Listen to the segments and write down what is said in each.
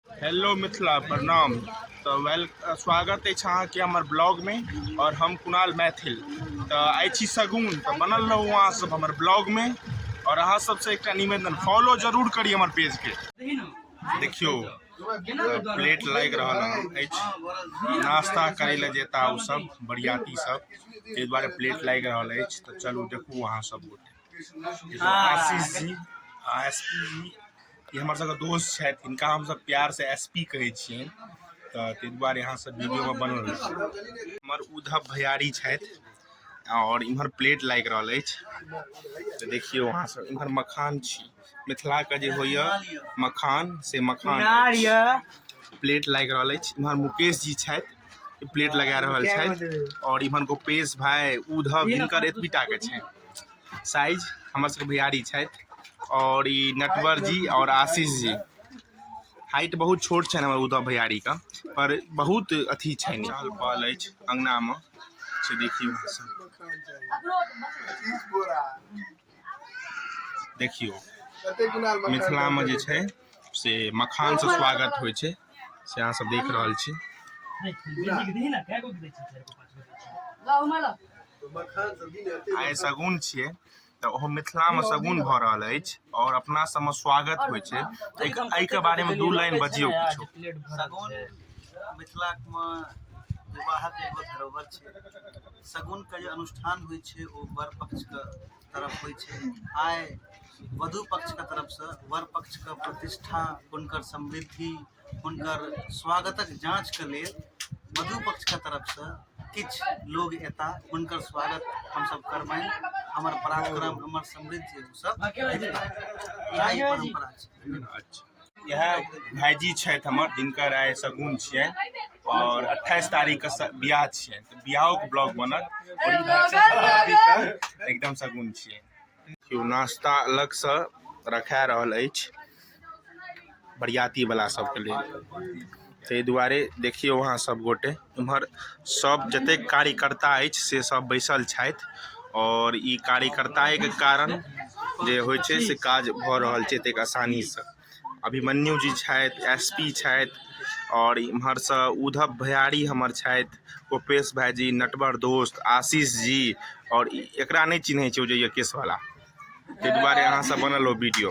hello Mithila प्रणाम तऽ well स्वागत अछि अहाँके हमर ब्लॉगमे आओर हम कुणाल मैथिल तऽ आइ छी सगुन तऽ बनल रहू अहाँ सब हमर ब्लॉगमे आओर अहाँ सबसँ एकटा निवेदन फॉलो जरूर करी हमर पेजके देखियौ प्लेट लागि रहल अछि नाश्ता करै लए जेता ओ सब बरियाती सब ताहि दुआरे प्लेट लागि रहल अछि तऽ चलू देखू अहाँ सब गोटे आशीष जी आ एस पी जी ई हमर सबके दोस्त छथि हिनका हमसब प्यार से एस पी कहै छियनि तऽ ताहि दुआरे अहाँ सब वीडियो मे बनल रहू हमर उद्धव भैयारी छथि आओर इम्हर प्लेट लागि रहल अछि तऽ देखियौ अहाँ सब इम्हर मखान छी मिथिलाके जे होइए मखान से मखान प्लेट लागि रहल अछि इम्हर मुकेश जी छथि प्लेट लगा रहल छथि आओर इम्हर गोपेश भाय उधव हिनकर एतबीटाके छनि साइज हमर सबके बिहारी छथि आओर ई नटवर जी आओर आशीष जी हाइट बहुत छोट छनि हमर उधव भैयारी का पर बहुत अथी छनि चहल पहल अछि अंगना में से देखियौ देखियौ मिथिलामे जे छै से मखानसँ स्वागत होइ छै से अहाँ सब देख रहल छी आइ सगुन छियै तऽ ओहो मिथिलामे सगुन भऽ रहल अछि आओर अपना सबमे स्वागत होइ छै एहिके बारेमे दू लाइन बजियौ किछो सगुन मिथिलामे विवाहक एगो धरोहर छै शगुनके जे अनुष्ठान होइ छै ओ वर पक्षके तरफ होइ छै आइ वधु पक्षके तरफसँ वर पक्षके प्रतिष्ठा हुनकर समृद्धि हुनकर स्वागतक जाँचके लेल वधु पक्षके तरफसँ किछु लोग एता हुनकर स्वागत हमसब करबनि हमर पराक्रम हमर समृद्धि सब परम्परा छै इएह भाइजी छथि हमर जिनकर आइ सगुन छियनि आओर अट्ठाइस तारीखके बियाह छियनि तऽ बियाहोके ब्लॉग बनत आओर ई भाइ सब भगवतीके एकदम सगुन छियनि केओ नाश्ता अलगसँ रखा रहल अछि बरियातीवला सभके लेल ताहि दुआरे देखियौ अहाँ सभ गोटे एम्हर सभ जतेक कार्यकर्ता अछि से सभ बैसल छथि आओर ई कार्यकर्ताएके कारण जे होइ छै से काज भऽ रहल छै एतेक आसानीसँ अभिमन्यु जी छथि एस पी छथि आओर इम्हरसँ उद्धव भयारी हमर छथि गोपेश भाईजी नटवर दोस्त आशीष जी आओर ई- एकरा नहि चिन्है छै ओ जे यऽ केसवाला ताहि दुआरे अहाँसभ बनल ओ वीडियो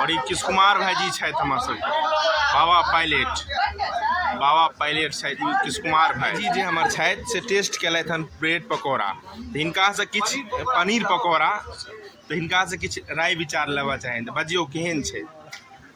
और ई किस कुमार भाईजी छथि हमर सब बाबा पायलट बाबा पायलट छथि ई किस कुमार भाईजी जे हमर छथि से टेस्ट केलथि हन ब्रेड पकौड़ा तऽ हिनकासँ किछु पनीर पकौड़ा तऽ हिनकासँ किछु राय विचार लेबऽ चाहैन तऽ बजियौ केहन छै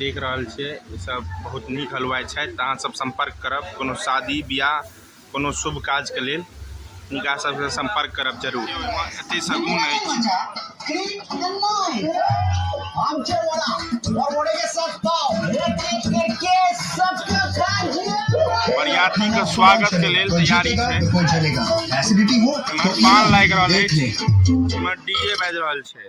देख रहल छियै ई सब बहुत नीक हलवाइ छथि तऽ अहाँ सब सम्पर्क करब कोनो शादी बियाह कोनो शुभ काज के लेल हुनका सबसँ सम्पर्क करब जरूर एते सगुन बरियाती के स्वागत के लेल तैयारी छै एसिडिटी हो पान लागि रहल अछि डीजे बाजि रहल छै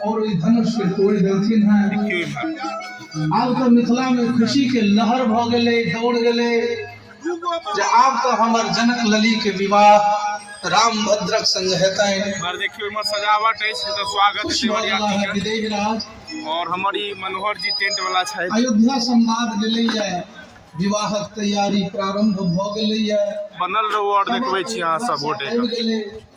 और ओहि धनुष के तोड़ देलखिन हैं आब तो मिथिला में खुशी के लहर भ गए दौड़ गए जे आब तो हमर जनक लली के विवाह राम भद्रक संग हेतै और देखियो इमर सजावट है तो स्वागत है देवरिया के विदेह राज और हमारी मनोहर जी टेंट वाला छै अयोध्या संवाद गेलै है विवाहक तैयारी प्रारंभ भ गेलै है बनल रहो और देखबै छी अहाँ सब गोटे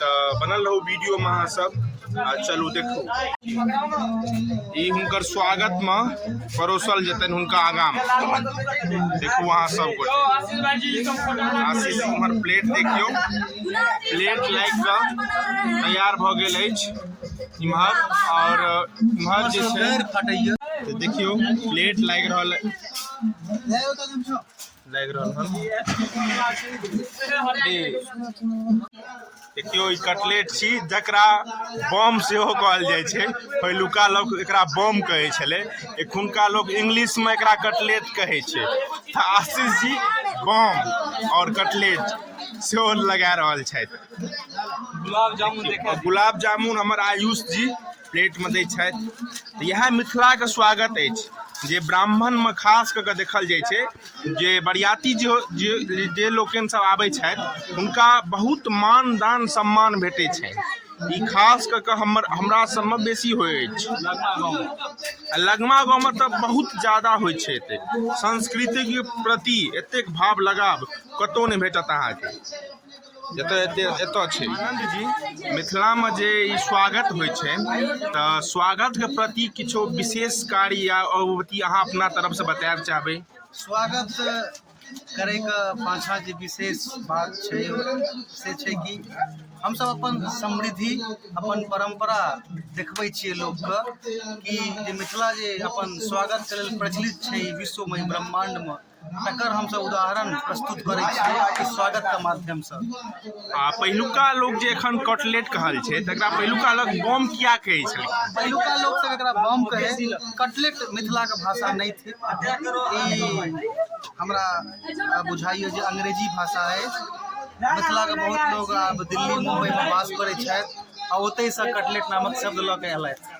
तऽ बनल रहू वीडियोमे अहाँ सब आ चलू देखू ई हुनकर स्वागतमे परोसल जेतनि हुनका आगामे देखू अहाँ सब आशीष हमर प्लेट देखियौ प्लेट लागि कऽ तैयार भऽ गेल अछि इम्हर आओर इम्हर जे छै तऽ देखियौ प्लेट लागि रहल लागि रहल हन देखियौ ई कटलेट छी जकरा बम सेहो कहल जाइ छै पहिलुका लोक एकरा बम कहै छलै एखुनका लोक इंग्लिशमे एकरा कटलेट कहै छै तऽ आशीष जी बम आओर कटलेट सेहो लगा रहल छथि गुलाब जामुन गुलाब जामुन हमर आयुष जी प्लेटमे दै छथि तऽ इएह मिथिलाके स्वागत अछि जे ब्राह्मणमे खास कऽ कऽ देखल जाइ छै जे बरियाती जे जे जे लोकनिसभ आबै छथि हुनका बहुत मान दान सम्मान भेटै छनि ई खास कऽ कऽ हमर हमरा सभमे बेसी होइ अछि आ लगमा गाँवमे तऽ बहुत ज्यादा होइ छै एते संस्कृतिके प्रति एतेक भाव लगाव कतहु नहि भेटत अहाँके जतय एते एतय छै आनन्द जी मिथिलामे जे ई स्वागत होइ छै तऽ स्वागतके प्रति किछो विशेष कार्य या अवगुति अहाँ अपना तरफसँ बतायब चाहबै स्वागत करैके पाछाँ जे विशेष बात छै से छै कि हमसभ अपन समृद्धि अपन परम्परा देखबै छियै लोकके कि जे मिथिला जे अपन स्वागतके लेल प्रचलित छै विश्वमे ब्रह्माण्डमे तकर हमसभ उदाहरण प्रस्तुत करै छियै कि स्वागतके माध्यमसँ आ पहिलुका लोक जे एखन कटलेट कहल छै तकरा पहिलुका लोक बम किया कहै छलै पहिलुका लोक सब एकरा बम कहै कटलेट मिथिलाके भाषा नहि थी हमरा बुझाइए जे अंग्रेजी भाषा अछि मिथिलाके बहुत लोक आब दिल्ली मुम्बइमे वास करै छथि आ ओतहिसँ कटलेट नामक शब्द लऽ कऽ एलथि